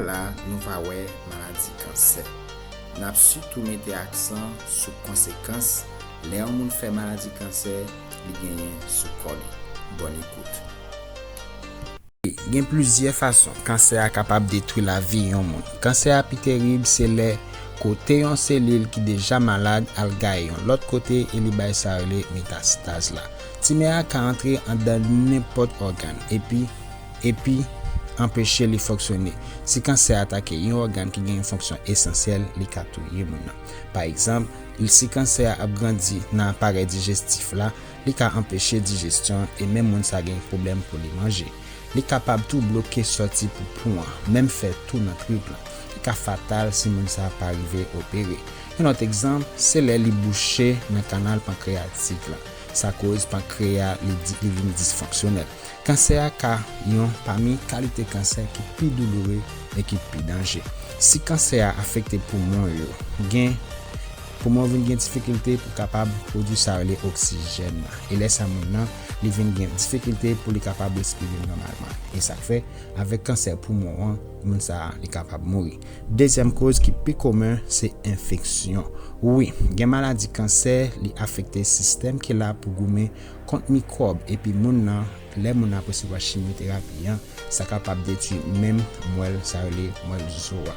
la nou pa wè maladi kansè. N ap sitou mete aksan sou konsekans lè yon moun fè maladi kansè li genyen sou kò li. Bòn ekout. Gen plizyè fason kansè a kapab detwi lavi yon moun. Kansè a pi terib se lè kote yon selil ki deja malad al gaye yon lòt kote e li bay sa yo rele metastaz la. Timè a ka antre andan nenpòt ògàn epi. epi anpeche li fonksyone. Si kansè atake yon ògàn ki gen yon fonksyon esansyèl, li ka touye moun nan. Pa egzanp, si kansè a ap grandi nan aparèy dijestif la, li ka anpeche dijestyon e menm moun sa gen pwoblèm pou li manje. Li kapab tou bloke sòti poupou an, menm fè tou nan trip la. Li ka fatal si moun sa pa rive opere. Yon lòt egzanp, se lè li bouche nan kanal pankreyatik la. Sa koz pankreya li vin disfonksyonèl. Kansè a ka yon pami kalite kansè ki pi douloure e ki pi danje. Si kansè a afekte poumon yo, gen Poumon yo vin gen difikilte pou kapab pwodui sa rele oksijèn nan, e lè sa moun nan li vin gen difikilte pou li kapab respire nòmalman. E sa k fè, avèk kansè poumon an, moun sa a li kapab mouri. Dezyèm koz ki pi komen se enfeksyon. Wi, gen maladi kansè li afekte sistèm ki la pou goumen Kont mikwòb epi moun nan lè moun nan ap resevwa chimyoterapi an sa kapab detwi menm mwèl sa rele mwèl zo a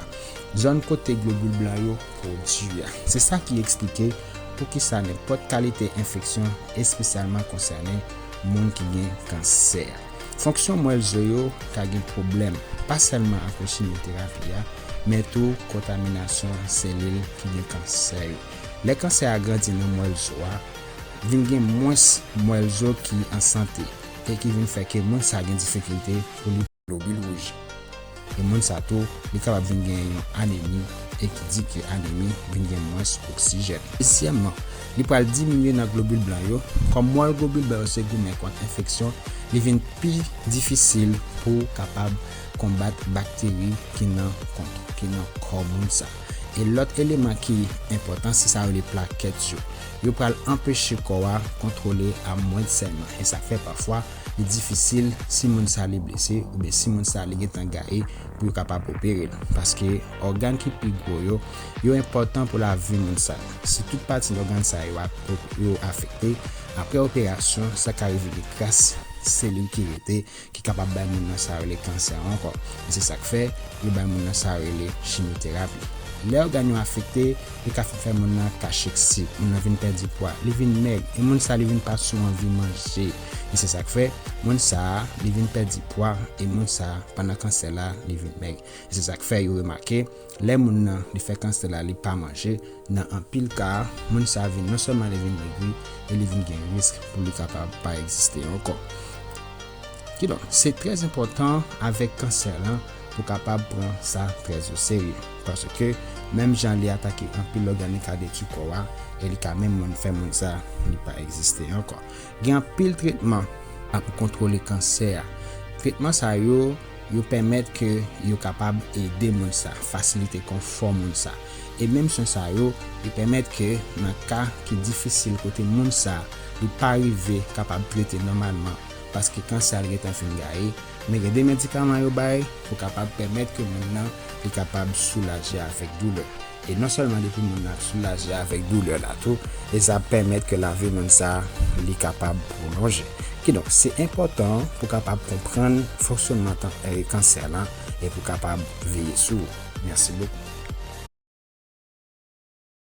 zòn kote globil blan yo pwodui a se sa ki eksplike poukisa nenpòt kalite enfeksyon espesyalman konsène moun ki gen kansè fonksyon mwèl zo yo ka gen pwoblèm pa sèlman apre chimyoterapi a men tou kontaminasyon selil ki gen kansè yo lè kansè a grandi nan mwèl zo a vin gen mwens mwèl zo ki an sante e ki vin fè ke moun sa gen difikilte pou li pran globil wouj e moun sa tou li kapab vin gen yon anemi e ki di ke anemi vin gen mwens oksijèn. Dezyèmman, li pral diminye nan globil blan yo, kòm mwèl globil blan yo se goumen kont enfeksyon, li vin pi difisil pou kapab konbat bakteri ki nan ki nan kò moun sa. E lòt eleman ki enpòtan se sa yo rele plakèt yo. yo pral anpeche kò a kontwole a mwens sèlman e sa fè pafwa li difisil si moun sa li blese oubyen si moun sa li gentan gaye pou yo kapab opere l paske ògàn ki pi gwo yo yo enpòtan pou lavi moun sa si tout pati ògàn sa yo yo afekte aprè operasyon sa ka revini gras selil ki rete ki kapab bay moun nan sa yo rele kansè ankò, e se sa k fè yo bay moun nan sa yo rele chimyoterapi. Lè ògàn yo afekte, li ka fin fè moun nan kacheksi, moun nan vin pèdi pwa, li vin mèg, e moun sa li vin pa sou anvi manje, e se sa k fè moun sa li vin pèdi pwa, e moun sa pandan kansè la li vin mèg, e se sa k fè yo remake Lè moun nan li fè kansè la li pa manje, nan anpil ka, moun sa vin non sèlman li vin megri e li vin gen risk pou li kapab pa egziste ankò. Kidonk, se trè enpòtan avèk kansè lan pou kapab pran sa trè o serye paske menm jan li atake anpil òganik a detwi kò a e li ka menm moun fè moun sa li pa egziste ankò. Gen anpil tretman pou kontwole kansè a. Tretman sa yo. Yo pèmèt ke yo kapab ede moun sa, fasilite konfò moun sa. E menm swen sa yo, li pèmèt ke nan ka ki difisil kote moun sa li pa rive kapab trete nòmalman paske kansè a li gentan fin gaye, men gen de medikaman yo bay pou kapab pèmèt ke moun nan li kapab soulaje avèk doulè. E non sèlman depi moun nan ap soulaje avèk doulè la tou, e sa ap pèmèt ke lavi moun sa a li kapab pwolonje. Kidonk, se enpòtan pou kapab konprann fonksyonman tan e kansè lan e pou kapab veye sou ou. Mèsi bokou.